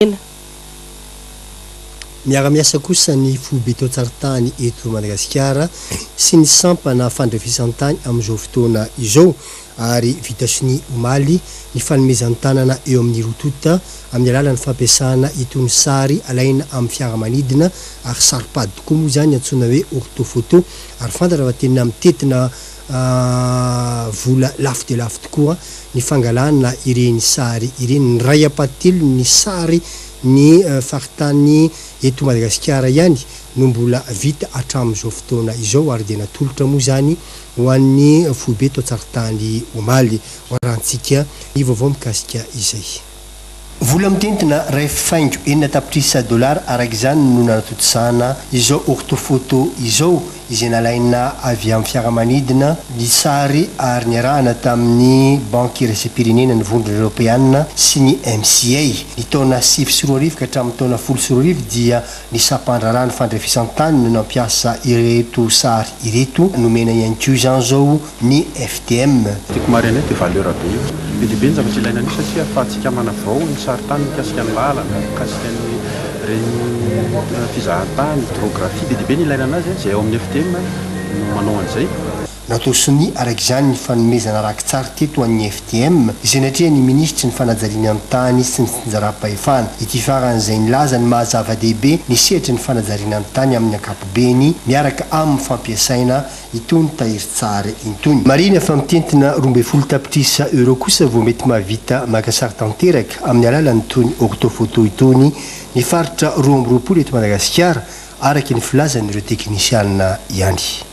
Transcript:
ela. Miara-miasa kosa ny foibe tao-Tsarintany eto Madagasikara sy ny sampana fandrefisan-tany amin'izao fotoana izao ary vita sonia omaly ny fanomezan-tanana eo amin'ny roa tonta amin'ny alalan'ny fampiasana itony sary alaina amin'ny fiaramanidina ary saro-pady tokoa moa izany antsoina hoe orthophoto ary fantatra fa tena mitentina vola lafo dia lafo tokoa ny fangalana ireny sary ireny. Ny iray ampahatelon'ny sary ny faritany eto Madagasikara ihany no mbola vita hatramin'izao fotoana izao ary dia natolotra moa izany ho an'ny foibe tao Tsaritany omaly. Hoarahantsika ny vaovao mikasika izay. Vola mitentina iray faingo enina tapitrisa dolara araka izany no nanatontosana izao ortofoto izao izay nalaina avy amin'ny fiaramanidina ny sary ary niarahana tamin'ny Banky Iraisam-pirenena ny Vondrona Eoropeana sy ny MCA. Ny taona sivy sy roa arivo ka hatramin'ny taona folo sy roa arivo dia ny sampan-draharaha ny fandrefesan-tany no nampiasa ireto sary ireto. Nomena ihany koa izany izao ny FDM. Tiako marina io dia valeur be io. Be dia be ny zavatra ilaina an'io satria ahafahantsika manavao ny sarintany mikasika ny lalana, mikasika ny reny fizahantany, hydrographie. Be dia be ny ilaina anazy a. Izay ao amin'ny FDM no manao an'izay. Natao sonia araka izany ny fanomezana raki-tsary teto ho an'ny FDM izay natrehan'ny Minisitry ny Fanajariana ny Tany sy ny Fitsinjaram-pahefana. Ity farany izay nilaza ny maha zava-dehibe ny sehatry ny fanajariana ny tany amin'ny ankapobeny miaraka amin'ny fampiasaina itony tahirin-tsary intony. Marihina fa mitentina roa ambin'ny folo tapitrisa euros kosa vao mety mahavita maka sary tanteraka amin'ny alalan'itony orthophoto itony ny faritra roa amby roapolo eto Madagasikara, araka ny filazan'ireo teknisiana ihany.